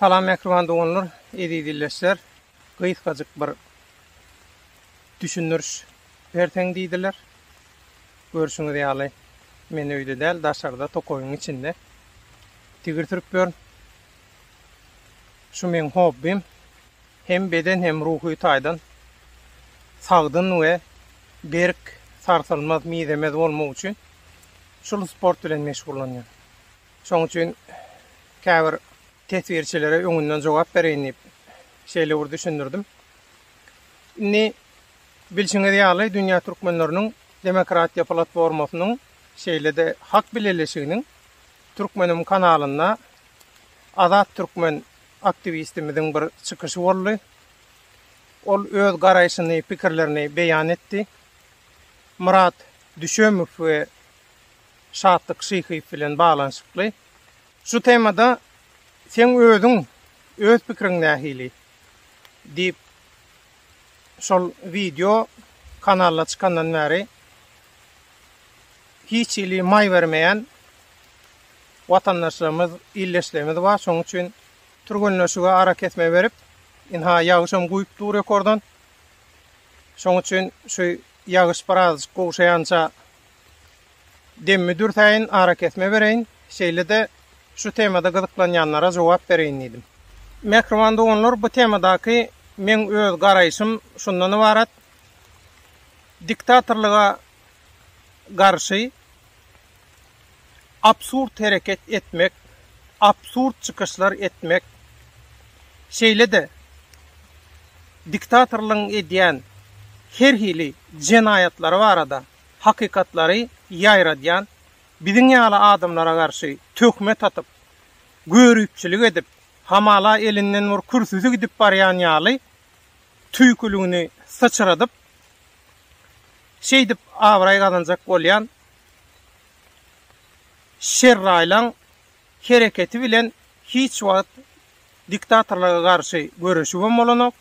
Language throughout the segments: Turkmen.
Salam mähriban doganlar, eziz illeşler. Gysgajyk bir düşündiriş berseň diýdiler. Görşüňiz ýaly, men öýde däl, daşarda tokaýyň içinde tigir sürüp ýörün. Şu meň hobbim. Hem beden hem ruhy taýdan sagdyn we berk, sarsylmaz, mizemez bolmak üçin şul sport bilen meşgullanýan. Şoň üçin käbir teswirçilere öňünden jogap bereýin diýip, şeýle bir düşündirdim. Indi bilşiňiz ýaly, dünýä türkmenleriniň demokratiýa platformasynyň, şeýle-de Hak bileleşiginiň Türkmenim kanalynda Azat Türkmen aktiwistimiziň bir çykyşy boldy. Ol öz garaýşyny, pikirlerini beýan etdi. Myrat Düşemow we Şatlyk Şyhyýew bilen baglanyşykly. Şu temada seň özüň, öz pikiriň nähili? diýip, şol wideo kanalda çykandan bäri hiç hili maý bermeýän watandaşlarymyz, ildeşlerimiz bar. Şonuň üçin türgenleşige arakesme berip, ynha ýagyşam guýup dur ýokardan. Şonuň üçin şu ýagyş birazajyk gowşaýança Demmi dürsäýin, arakesme bereýin, şeýle-de şu temada gyzyklanýanlara jogap bereýin diýdim. Mähriban doganlar, bu temadaky meň öz garaýşym şundan ybarat, diktatorlyga garşy absurd hereket etmek, absurd çykyşlar etmek, şeýle-de diktatorlygyň edýän her hili jenaýatlary barada hakykatlary ýaýradýan, biziň ýaly adamlara garşy töhmet atyp, göripçilik edip, hamala elinden bir kürsüsi gidip barýan ýaly tüýküligini syçradyp, şeýdip abraý gazanjak bolýan şerraýlaň, hereketi bilen hiç wagt diktatorlyga garşy göreşibem bolanok,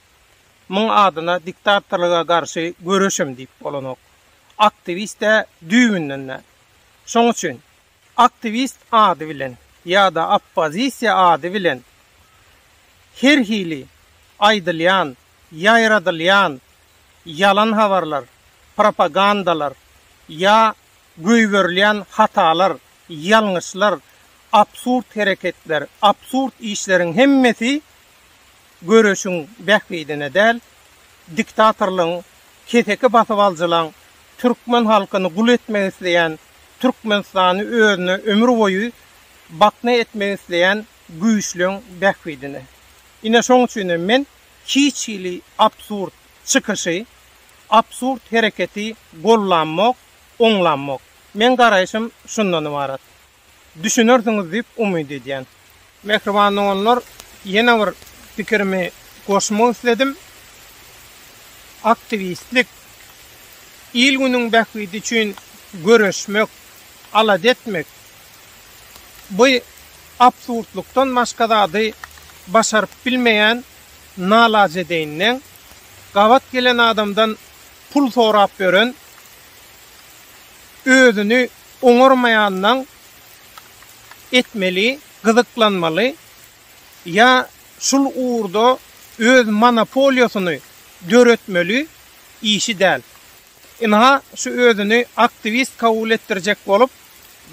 muň adyna diktatorlyga garşy göreşem diýip bolanok. Aktiwist-ä düýbünden-de. Şoň üçin aktiwist ady bilen ýa-da oppozisiýa ady bilen her hili aýdylýan, ýaýradylýan ýalan habarlar, propagandalar ýa Goýberilýän hatalar, ýalňyşlar, absurd hereketler, absurd işleriň hemmesi göreşiň bähbidine däl, diktatorlygyň, keseki basyp aljylaň, türkmen halkyny gul etmek isleýän, Türkmenistany özüne ömür boýy bakna etmek isleýän güýçleň bähbidine. Ine şoň üçin hem men hiç hili absurd çykyşy, absurd hereketi gollamok. oňlanmak. Meň garaýşym şundan ybarat. Düşünersiňiz diýip umyt edýän. Mähriban doganlar, ýene bir pikirimi goşmak isledim. Aktiwistlik, il-günüň bähbidi üçin göreşmek, alada etmek, bu absurdlykdan başga zady başaryp bilmeýän nalajedeýinden, gabat gelen adamdan Pul sorap ýören, özüni oňarmaýandan etmeli, gyzyklanmaly ýa şul ugurda öz monopoliýasyny döretmeli işi däl. Ynha, şu özüni aktiwist kabul etdirjek bolup,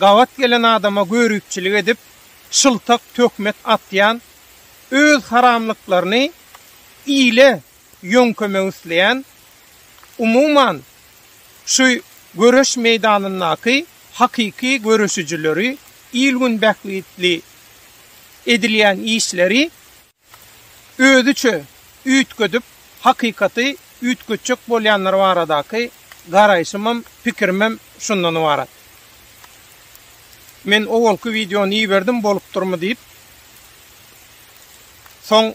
gabat gelen adama görüpçilik edip, şyltak töhmet atýan, öz haramlyklaryny ile ýöňkemek isleýän, umuman, şu göreş meýdanyndaky hakyky göreşijileri, il-gün bähbitli edilýän işleri özüçe üýtgedip, hakykaty üýtgetjek bolýanlar baradaky garaýşymam, pikirimem şundan ybarat. Men owalky wideony iberdim, bolupdyrmy diýip. Soň